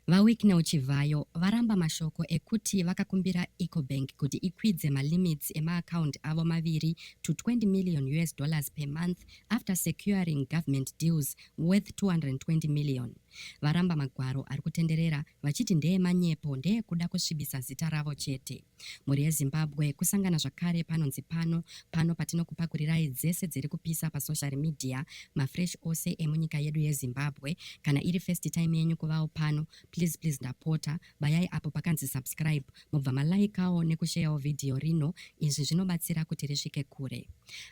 VaWicknell Chivhayo varamba mashoko ekuti vakakumbira Ecobank kuti ikwidze malimits emaacount avo maviri to 20 million us dollars per month after securing government deals worth 220 million. Varamba magwaro ari kutenderera vachiti ndeemanyepo ndeekuda kusvibisa zita ravo chete. Mhuri yeZimbabwe kusangana zvakare panonzi pano pano patinokupakurirai dzese dziri kupisa pasocial media mafresh ose emunyika yedu yeZimbabwe kana iri first time yenyu kuvawo pano please please ndapota bayai apo pakanzi subscribe mobva malaikawo nekusheyawo vhidhiyo rino izvi zvinobatsira kuti risvike kure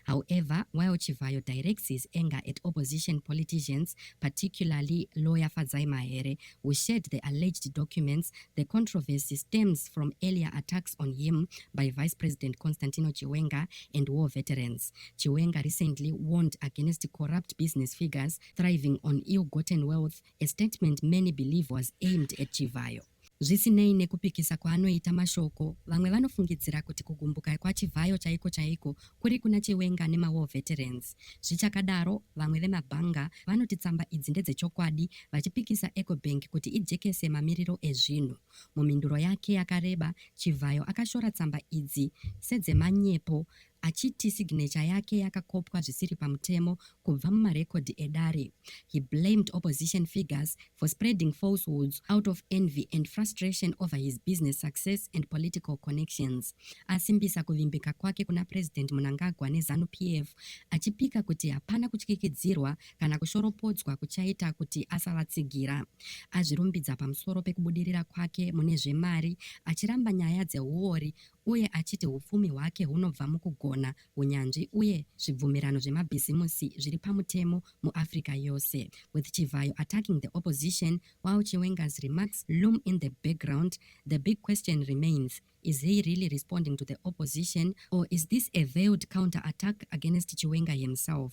however while chivhayo directs his anger at opposition politicians particularly lawyer fadzai mahere We shared the alleged documents. The controversy stems from earlier attacks on him by Vice President Constantino Chiwenga and war veterans. Chiwenga recently warned against corrupt business figures thriving on ill-gotten wealth, a statement many believe was aimed at Chivhayo. Zvisinei nekupikisa kwaanoita mashoko, vamwe vanofungidzira kuti kugumbuka kwaChivhayo chaiko chaiko Kuri kuna Chiwenga nemaWar Veterans. Zvichakadaro, vamwe vemabhanga vanoti tsamba idzi ndedzechokwadi vachipikisa Ecobank kuti ijekese mamiriro ezvinhu. Mumhinduro yake yakareba, Chivhayo akashora tsamba idzi sedzemanyepo achiti signature yake yakakopwa zvisiri pamutemo kubva mumarekodhi edare. He blamed opposition figures for spreading falsehoods out of envy and frustration over his business success and political connections asimbisa kuvimbika kwake kuna President Munangagwa neZanu PF achipika kuti hapana kutyikidzirwa kana kushoropodzwa kuchaita kuti asavatsigira azvirumbidza pamusoro pekubudirira kwake mune zvemari achiramba nyaya dzehuori uye achiti hupfumi hwake hunobva mukugona hunyanzvi uye zvibvumirano zvemabhizimusi zviri pamutemo muAfrica yose, with Chivhayo attacking the opposition while Chiwenga's remarks loom in the background, the big question remains, is he really responding to the opposition or is this a veiled counter-attack against Chiwenga himself?